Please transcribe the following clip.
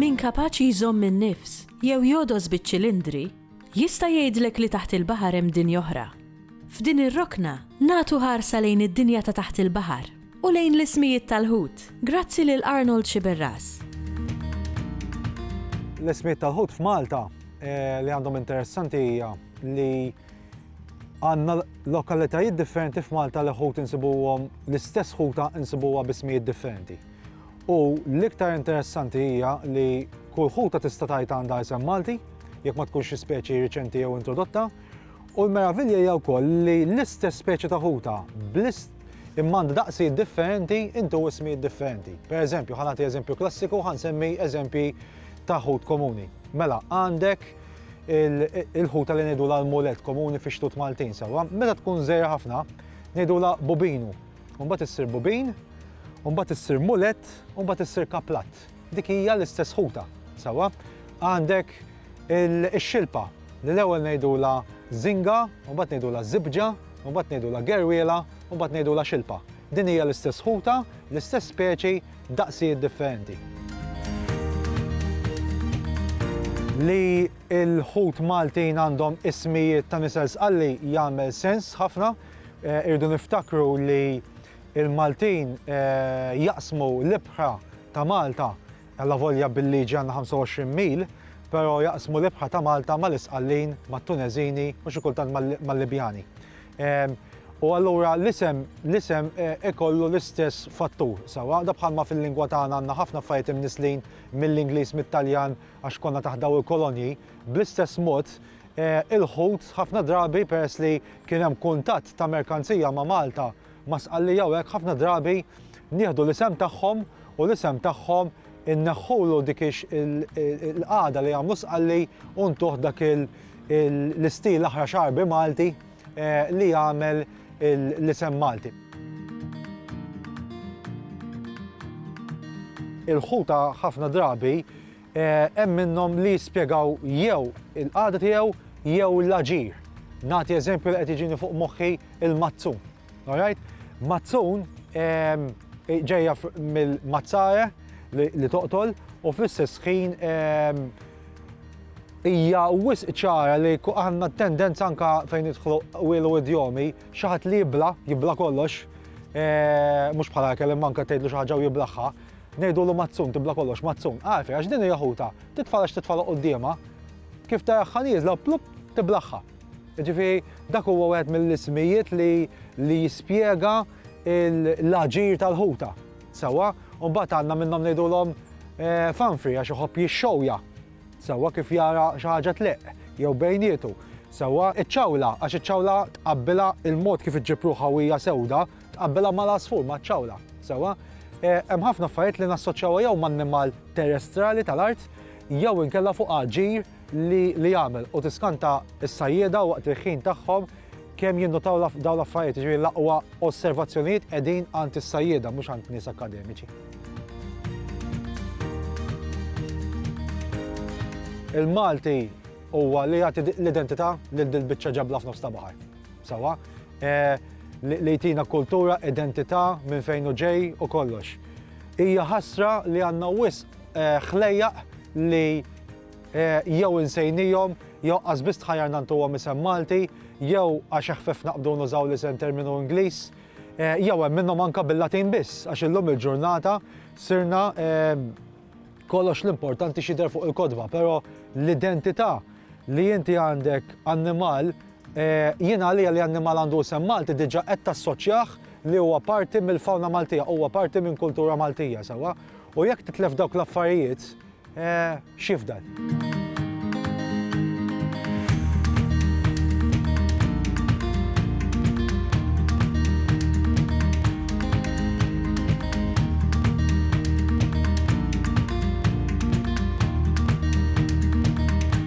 Min kapaċi jżomm in-nifs jew jogħdos biċ-ċilindri, jista' jgħidlek li taħt il-baħar hemm dinja oħra. F'din ir-rokna nagħtu ħarsa lejn id-dinja ta' taħt il-baħar. u lejn l-ismijiet tal-ħut, grazzi lil Arnold Sciberras. L-ismijiet tal-ħut f'Malta eh, li għandhom interessanti hija li għanna lokalitajiet differenti f'Malta li ħut insibuhom l-istess ħuta insibuha bismijiet differenti. U l-iktar interessanti hija li kull ħuta tista' tajt għandha isem Malti, jekk ma tkunx xi speċi riċenti jew introdotta, U l-meravilja hija wkoll li l-istess speċi ta' ħuta bl-ist imma għandha daqsijiet differenti intu ismijiet differenti. Per eżempju, ħa nagħti eżempju klassiku, ħa nsemmi eżempji ta' ħut komuni. Mela, għandek il-ħuta li ngħidu l-mulet komuni fi xtut Maltin, sawa, meta tkun żejra ħafna, ngħidu la bubinu. Mbagħad issir bubin, mbagħad issir mulet, mbagħad issir kaplat. Dik hija l-istess ħuta, sawa. Għandek Ix-xilpa, li l-ewwel ngħidulha żinga, u mbagħad ngħidulha żibġa, u mbagħad ngħidulha gerwiela, u mbagħad ngħidulha xilpa. Din hija l-istess ħuta, l-istess speċi, daqsijiet differenti. Li l-ħut Maltin għandhom ismijiet ta' nisel sqalli jagħmel sens ħafna. Irridu niftakru li l-Maltin jaqsmu l-ibħra ta' Malta Allavolja bil-liġi għandna 25 mil, però jaqsmu l-ibħra ta' Malta mal-Isqallin, mat-Tuneżini u xi kultant mal-Libjani. Ehm, u allura l-isem l-isem eh, ikollu l-istess fattur. Sawa, da bħalma fil-lingwa tagħna għandna ħafna affarijiet imnislin mill-Ingliż, mit-Taljan għax konna taħdaw il-kolonji, bl-istess mod eh, il-ħut ħafna drabi peress li kien hemm kuntatt ta' merkanzija ma' Malta Ma' Sqallija u hekk ħafna drabi nieħdu l-isem tagħhom u l-isem tagħhom inneħħulu dik il-qagħda li jagħmlu Sqalli u ntuh dak l-istil aħra xarbi Malti eh, li jagħmel l-isem Malti. Il-ħuta ħafna drabi Hemm minnhom li jispjegaw jew il-qagħda tiegħu jew l-aġir. Nagħti eżempju li qed jiġini fuq moħħi il-mazzun. Alright? Mazzun ehm, ġejja mill-mazzare li toqtol u fl-istess ħin ehm, hija wisq ċara li għandna tendenza anka fejn idħlu wielu idjomi xi ħadd li jibla, jibla kollox, eh, mhux bħala kellim manka tgħidlu xi ħaġa u jiblaħħa, Ngħidulu Mazzun, tibla' kollox, Mazzun, agħrfi, għax din hija ħutha, titfala x'titfala quddiemha, kif taraħħa nieżla, plupp, tiblaħħa. Jiġifieri dak huwa wieħed mill-ismijiet li li jispjega l-aġir tal-ħuta. Sewwa? U mbagħad għandna minnhom ngħidulhom Fanfri għax iħobb jixxewja. Sewwa kif jara xi ħaġa tleqq jew bejnietu. Sewwa, iċ-ċawla għax iċ-ċawla tqabbilha l-mod kif iġġib ruħha u hija sewda, Tqabbilha mal-għasfur, maċ-ċawla. Sewwa? Hemm ħafna affarijiet li nassoċjawha jew m'annimal terestrali tal-art jew inkella fuq aġir li li jagħmel u tiskanta s-sajjieda waqt il-ħin tagħhom kemm jinnutaw dawn l-affarijiet, jiġifieri l-aqwa osservazzjonijiet qegħdin għand is-sajjieda mhux għand nies akkademiċi. Il-Malti huwa li jagħti l-identità lil dil-biċċa ġabla f'nofs ta' baħar. Sewwa? li jtina kultura, identità, minn fejn hu ġej u kollox. Hija ħasra li għandna wisq eh, ħlejjaq li eh, jew insejnijom, jew qasbis tħajjar nantuhom isem Malti, jew għax ħfef naqbdu nużaw li sen terminu Ingliż, eh, jew hemm minnhom anka bil-Latin biss, għax illum il-ġurnata sirna kollox l-importanti xider fuq il-kodba, pero l-identità li inti għandek annimal Jien għalija li annimal għandu isem Malti diġa qed tassoċjah li huwa parti mill-fawna Maltija, huwa parti minn kultura Maltija, sewwa? U jekk titlef dawk l-affarijiet, x'jifdal?